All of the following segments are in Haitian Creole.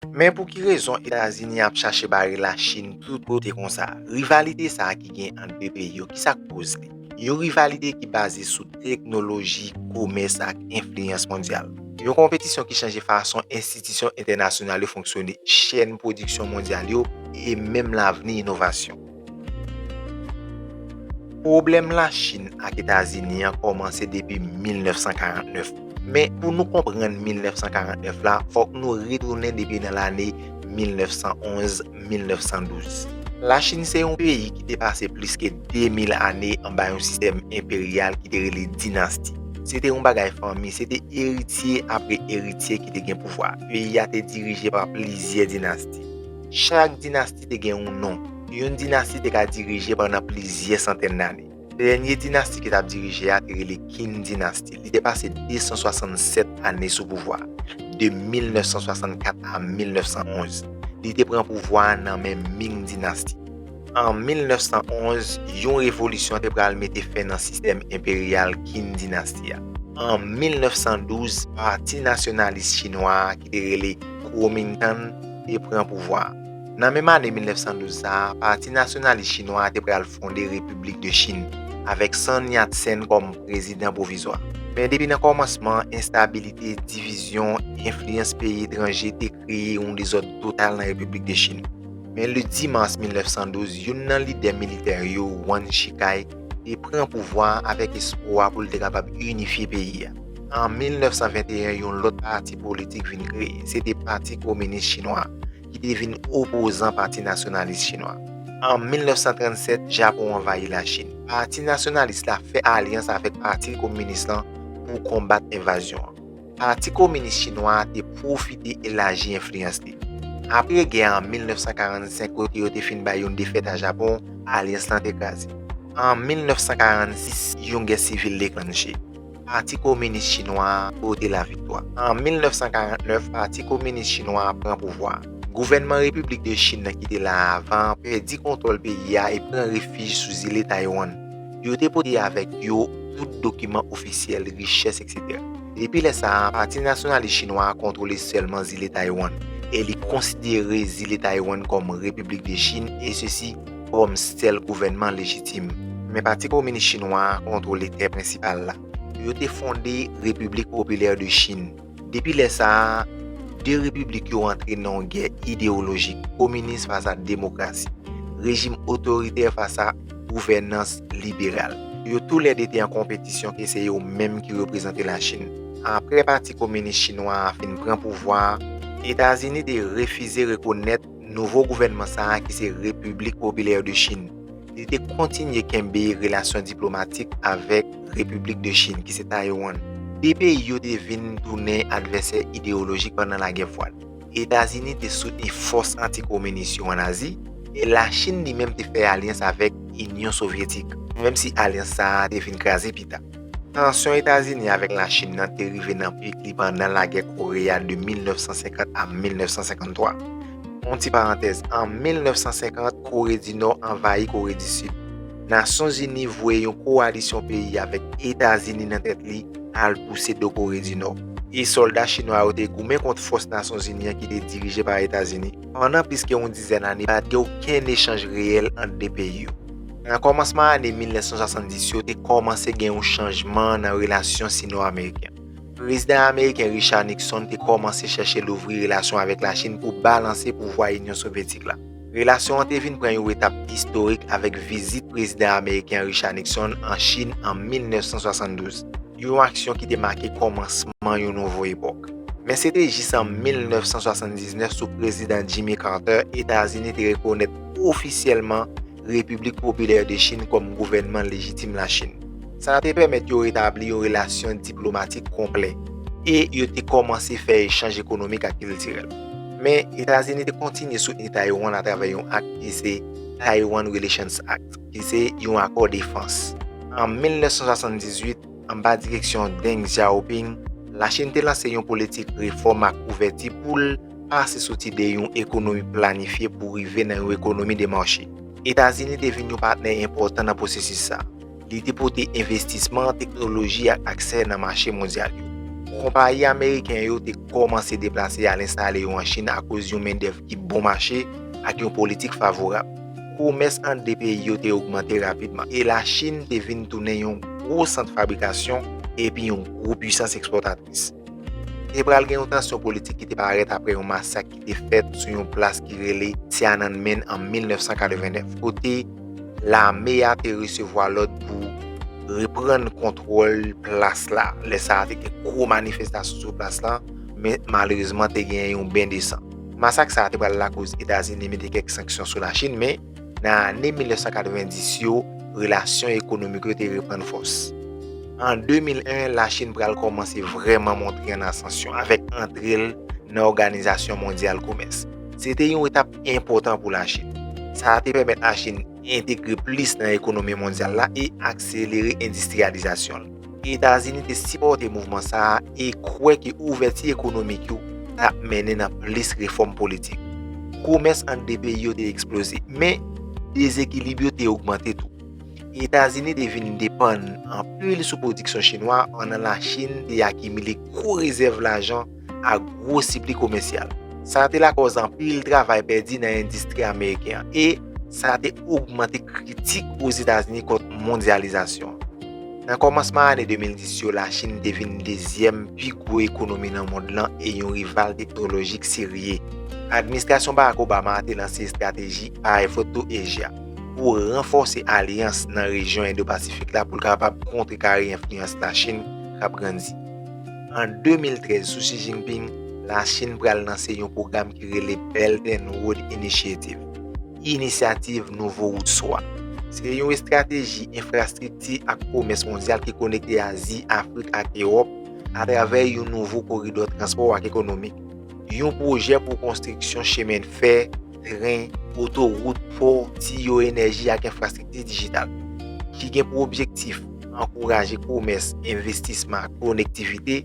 Men pou ki rezon Etazini ap chache bare la Chin tout kote konsa? Rivalite sa ki gen ant 2 peyi yo, ki sa k koz li? Yon rivalite ki baze sou teknoloji, komès ak enfliyans mondyal. Yon konpetisyon ki chanje fason enstitisyon entènasyonal yo fonksyone, chèn pwodiksyon mondyal yo e menm lavni inovasyon. Pwoblèm Lachin ak Etazini an kòmanse depi 1949. Men, pou nou konprann 1949 la, fòk nou retounen depi nan lane 1911, 1912. Lachin se yon peyi ki te pase plis ke 2000 ane anba yon sistèm enperyal ki te rele dinasti. Se te yon bagay fanmi, se te eritye apre eritye ki te gen pouvwa. Peyi a te dirije pa plizyè dinasti. Chak dinasti. dinasti te gen yon non. Yon dinasti te ka dirije pandan plizyè santèn lane. Dènye dinasti ki t ap dirije a te rele Qin dinasti. Li te pase 267 ane sou pouvwa, de 1964 a 1911. Li te pran pouvwa a nan men Ming dinasti. An 1911, yon revolisyon te pral mete fen nan sistèm enperyal Qin dinasti a. An 1912, pati nasyonalis chinwa a ki te rele Kuomintang te pran pouvwa a. Nan menm ane 1912 sa a, Pati Nasyonalis Chinwa a te pral fonde Repiblik de Chin, avèk Sun Yat-sen kòm prezidan pwovizwa. Men depi nan kòmansman, enstabilite, divizyon, enfliyans peyi etranje te kreye yon dezòd total nan Repiblik de Chin. Men le 10 mas 1912, youn nan lidè militè yo, Yuan Shikai, te pran pouvwa a avèk espwa pou l te kapab inifye peyi a. An 1921 yon lòt pati politik vin kreye, se te Pati Kominis Chinwa a, ki te vin opozan Pati Nasyonalis Chinwa a. An 1937, Japon anvayi Lachin. Pati Nasyonalis la fè alyans avèk Pati Kominis lan pou konbat envazyon an. Pati Kominis Chinwa a te pwofite elaji enfliyans li. Apre gè a an 1945 kote yo te fin bay yon defèt a Japon, alyans lan te kraze. An 1946, yon gè sivil deklanche. Pati Kominis Chinwa a pote laviktwa. An 1949, Pati Kominis Chinwa a pran pouvwa a. Gouvènman Repiblik de Chin nan ki te la avan an pèdi kontwòl peyi a e pran refij sou zile Taywann. Yo te pote avèk yo tout dokiman ofisyèl, richès, eksetera. Depi lè sa a, Pati Nasyonalis Chinwa a kontwole sèlman zile Taywann e li konsidere zile Taywann kòm Repiblik de Chin, esesi, kòm sèl gouvènman lejitim. Men Pati Kominis Chinwa a kontwole tè prensipal la. Yo te fonde Repiblik Popilè de Chin. Depi lè sa a, de repiblik yo antre nan yon gè idewolojik, kominis fas a demokrasi, rejim otoritè fas a gouvènans liberal. Yo tou lè de te an konpetisyon ke se yo menm ki reprezante Lachin. Apre Pati Kominis Chinwa a fin pran pouvwa a, Etazini te refize rekonèt nouvo gouvènman sa a ki se Repiblik Popilè de Chin, li te kontinye kenbe relasyon diplomatik avèk Repiblik de Chin, ki se Taiwan. De peyi yo te vin tounen advèsè ideyolojik pandan Lagè Fwad. Etazini te soutni fòs anti-kominis yo ann Azi, e Lachin li menm te fè alyans avèk Inyon Sovyetik, menm si alyans sa a te vin kraze pita. Tansyon Etazini avèk Lachin nan te rive nan pik li pandan lagè Kore a de 1950 a 1953. Yon ti parantèz, an 1950, Kore di Nò anvayi Kore di Sid. Nasyonzini voye yon kowalisyon peyi avèk Etazini nan tèt li al pouse do Kore di Nò. E sòlda chinwa yo te goumen kont fòs Nasyonzini an ki te dirije pa Etazini. Pandan plis ke yon dizèn ane, pa t gen okenn echanj reyèl ant 2 peyi yo. Nan kòmansman ane 1970 yo, te kòmanse gen yon chanjman nan relasyon sino-ameriken. Prezidan ameriken Richard Nixon te kòmanse chèche louvri relasyon avèk Lachin pou balanse pouvwa Inyon Sovyetik la. Relasyon an te vin pran yon etap istorik avèk vizit Prezidan ameriken Richard Nixon an Chin an 1972. yon aksyon ki te make kòmansman yon nouvo epòk. Men se te jis an 1979 sou Prezidan Jimmy Carter Etazini te rekonèt ofisyèlman Repiblik Popilè de Chin kòm gouvènman lejitim Lachin. Sa a te pèmèt yo retabli yon relasyon diplomatik konplè e yo te kòmanse fè echanj ekonomik ak kiltirèl. Men, Etazini te kontinye soutni Taiwan atravè yon ak ki se Taiwan Relations Act. Li se yon akò defans. An 1978, anba direksyon Deng Xiaoping, Lachin te lanse yon politik refòm ak ouvèti pou l pase soti de yon ekonomi planifye pou rive nan yon ekonomi de mache. Etazini te vin yon patnè enpòtan nan pwosesis sa a. Li te pote envestisman, teknoloji ak aksè nan mache mondyal yo. Konpayi ameriken yo te kòmanse deplase al enstale yo an Chin akoz yon mendèv ki bon mache ak yon politik favorab. komès ant 2 peyi yo te ogmante rapidman e Lachin te vin tounen yon gwo sant fabrikasyon epi yon gwo puisans ekspòtris. Te pral gen yon tansyon politik ki te parèt apre yon masak ki te fèt sou yon plas ki rele Tiananmen an 1989, kote lame a te resevwa lòd pou reprann kontwòl plas la. Lè sa a, te gen gwo manifestasyon sou plas la, men malerezman te gen yon ben de san. Masak sa a te pral lakoz Etazini mete kèk sanksyon sou Lachin, men, nan ane 1990 yo, relasyon ekonomik yo te reprann fòs. An 2001, Lachin pral kòmanse vrèman montre an asansyon avèk antre l nan Òganizasyon Mondyal Komès. Se te yon etap enpòtan pou Lachin. Sa a te pèmèt Lachin entegre plis nan ekonomi mondyal la e akselere endistriyalizasyon l. Etazini te sipòte mouvman sa a e kwè ke ouvèti ekonomik yo t ap mennen nan plis refòm politik. Komès ant 2 peyi yo te eksploze, men dezekilib yo te ogmante tou. Etazini te vin depann anpil sou pwodiksyon chinwa pandan Lachin te akimile gwo rezèv lajan, ak gwo sipli komèsyal. Sa te lakòz anpil travay pèdi nan endistri ameriken an e sa te ogmante kritik Ozetazini kont mondyalizasyon. Nan kòmansman ane 2010 yo, Lachin te vin dezyèm pi gwo ekonomi nan mond lan e yon rival teknolojik serye. Administrasyon Barack Obama a te lanse estrateji Eye for Two Asia pou ranfòse alyans nan rejyon Indo-Pasifik la pou l kapab kontrekare enfliyans Lachin k ap grandi. An 2013, sou Xi Jinping, Lachin pral lanse yon pwogram ki rele Belt and Road Initiative, Inisyativ Nouvo Wout Swa. Se yon estrateji enfrastrikti ak komès mondyal ki konekte Azi, Afrik ak Ewòp atravè yon nouvo koridò transpò ak ekonomik, yon pwojè pou konstriksyon chemen fè, tren, otowout, pò, tiyo, enèji ak enfrastrikti dijital, ki gen pou objektif ankouraje komès, envestisman ak konektivite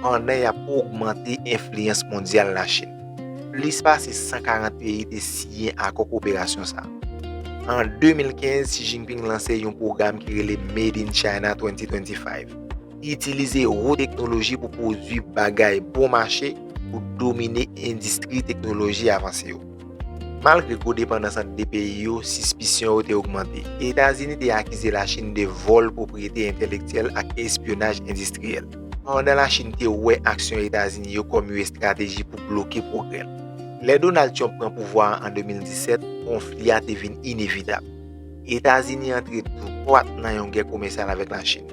pandan y ap ogmante enfliyans mondyal Lachin. Plis pase 140 peyi te siyen akò koperasyon sa a. An 2015, Xi Jinping lanse yon pwogram ki rele Made in China 2025. Itilize wo teknoloji pou pwodwi bagay bon mache pou domine endistri teknoloji avanse yo. Malgre gwo depandans ant 2 peyi yo, sispisyon yo te ogmante. Etazini te akize Lachin de vòl pwopriyete entelektyèl ak espyonaj endistriyèl. Pandan Lachin te wè aksyon Etazini yo kòm you estrateji pou bloke pwogrè l. Lè Donald Trump pran pouvwa a an 2017, konfli a te vin inevitab. Etazini antre dwat nan yon gè komèsyal avèk Lachin.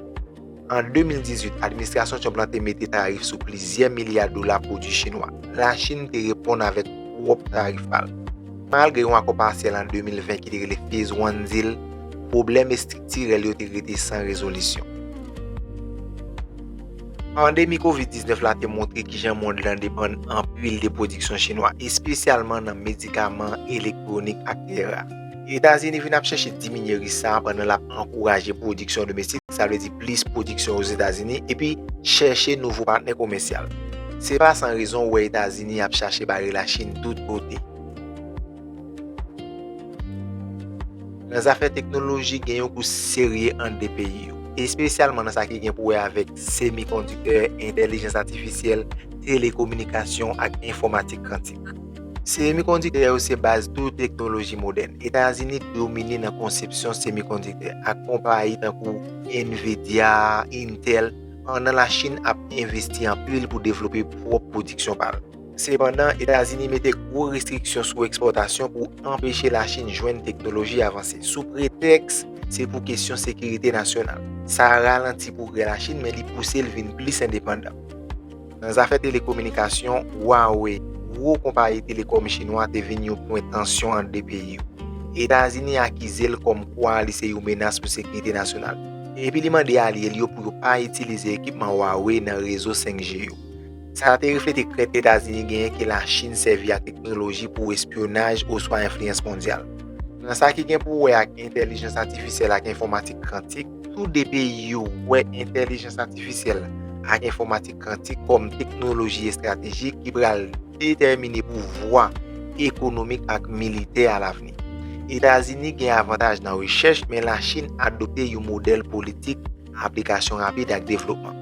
An 2018, administrasyon Trump la te mete tarif sou plizyè milya dola pwodui chinwa. Lachin te reponn avèk pwòp tarif pa l. Malgre yon akò pasyèl an 2020 ki te rele Phase One Deal, pwoblèm estriktirèl yo te rete san rezolisyon. Pandemi Kovid 19 la te montre kijan mond lan depann anpil de pwodiksyon chinwa, espesyalman nan medikaman, elektwonik ak tera. Etazini vin ap chèche diminye risk sa a pandan l ap ankouraje pwodiksyon domestik, sa vle di plis pwodiksyon Ozetazini, epi chèche nouvo patnè komèsyal. Se pa san rezon ou wè Etazini ap chache bare Lachin tout kote. Nan zafè teknoloji, gen yon kous serye ant 2 peyi yo, espesyalman nan sa ki gen pou wè avèk semikondiktè, entèlijans atifisyèl, telekominikasyon ak enfòmatik kantik. Semikondiktè yo se baz tout teknoloji modèn. Etazini domine nan konsepsyon semikondiktè ak konpayi tankou Nvidia, Intel, pandan Lachin ap envesti anpil pou devlope pwòp pwodiksyon pa l. Sepandan, Etazini mete gwo restriksyon sou ekspòtasyon pou anpeche Lachin jwenn teknoloji avanse, sou pretèks se pou kesyon sekirite nasyonal. Sa ralanti pwogrè Lachin, men li pouse l vin plis endepandan. Nan zafè telekominikasyon, Huawei, gwo konpayi telekòm chinwa te vin yon pwen tansyon ant 2 peyi yo. Etazini akize l kòm kwa li se yon menas pou sekirite nasyonal li. Epi li mande alye li yo pou yo pa itilize ekipman Huawei nan rezo 5G yo. Sa te reflete krent Etazini genyen ke Lachin sèvi ak teknoloji pou espyonaj oswa enfliyans mondyal. Nan sa ki gen pou wè ak entèlijans atifisyèl ak enfòmatik kantik, Tou 2 peyi yo wè entèlijans atifisyèl ak enfòmatik kantik kòm teknoloji estratejik ki pral detèmine pouvwa ekonomik ak militè alavni. Etazini gen avantaj nan rechèch, men Lachin adopte yon modèl politik aplikasyon rapid ak devlopman.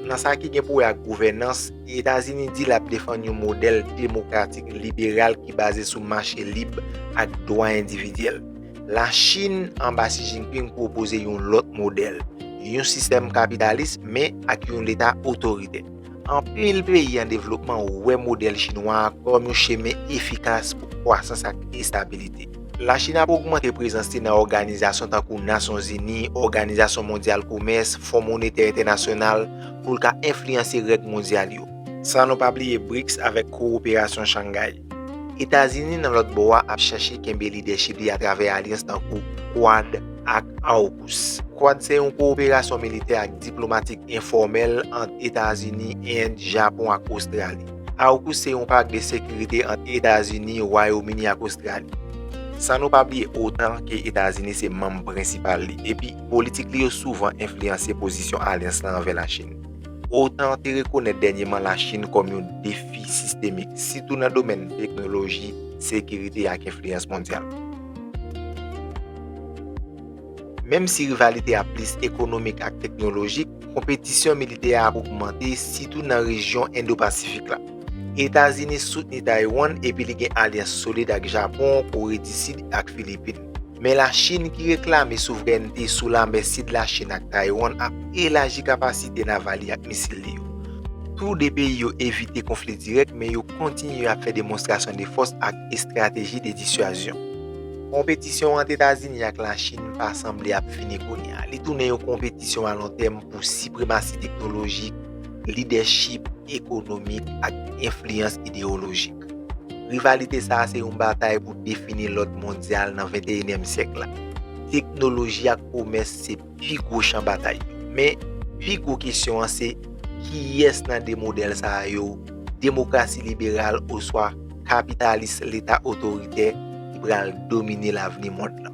Nan sa ki gen pou wè ak gouvènans, Etazini di l ap defann yon modèl demokratik liberal ki baze sou mache lib ak dwa endividyèl. La Chine anba Xi Jinping pwopoze yon lòt modèl, yon sistèm kapitalis men ak yon leta otoritè. Anpil peyi an devlopman wè modèl chinwa a kòm yon chemen efikas pou kwasans ak estabilite. La Chine ap ogmante prezans li nan òganizasyon tankou Nasyon Zini, Òganizasyon Mondyal Komès, Fon Monetè Entènasyonal pou l ka enfliyanse règ mondyal yo. San nou pa bliye BRICS avèk Kowoperasyon Shanghai. Etazini nan lòt bò a ap chache kenbe lidèchip li atravè alyans tankou Quad ak AUKUS. Quad se yon kowoperasyon militè ak diplomatik enfòmèl ant Etazini, End, Japon ak Ostrali. AUKUS se yon pak de sekirite ant Etazini, Wayomini ak Ostrali. San nou pa bliye otan ke Etazini se manm prensipal li, epi politik li yo souvan enfliyanse pozisyon alyans la anvè Lachin. Otan te rekonèt dènyeman Lachin kòm yon defi sistemik, sitou nan domèn teknoloji, sekirite ak enfliyans mondyal. Menm si rivalite a plis ekonomik ak teknolojik, konpetisyon militè a ap ogmante, sitou nan rejyon Endo-Pasifik la. Etazini soutni Taiwan epi li gen alyans solid ak Japon, Kore di Sid ak Filipin. Men Lachin ki reklame souvrènte sou lanmè sid Lachin ak Taiwan ap elaji kapasite naval li ak misil li yo. Tou 2 peyi yo evite konfli dirèk men yo kontinye ap fè demonstrasyon de fòs ak estrateji de disyazyon. Konpetisyon ant Etazini ak Lachin pa sanble ap fini kounye a, li tounen yon konpetisyon a lon tèm pou sipremasi teknolojik, lidèchip ekonomik ak enfliyans ideyolojik. Rivalite sa a se yon batay pou defini lòd mondyal nan venteyenyèm syèk la. Teknoloji ak komès se pi gwo chan batay yo. Men, pi gwo kesyon an se, kiyès nan de modèl sa a yo, demokrasi liberal oswa kapitalis leta otoritè, ki pral domine lavni mond lan?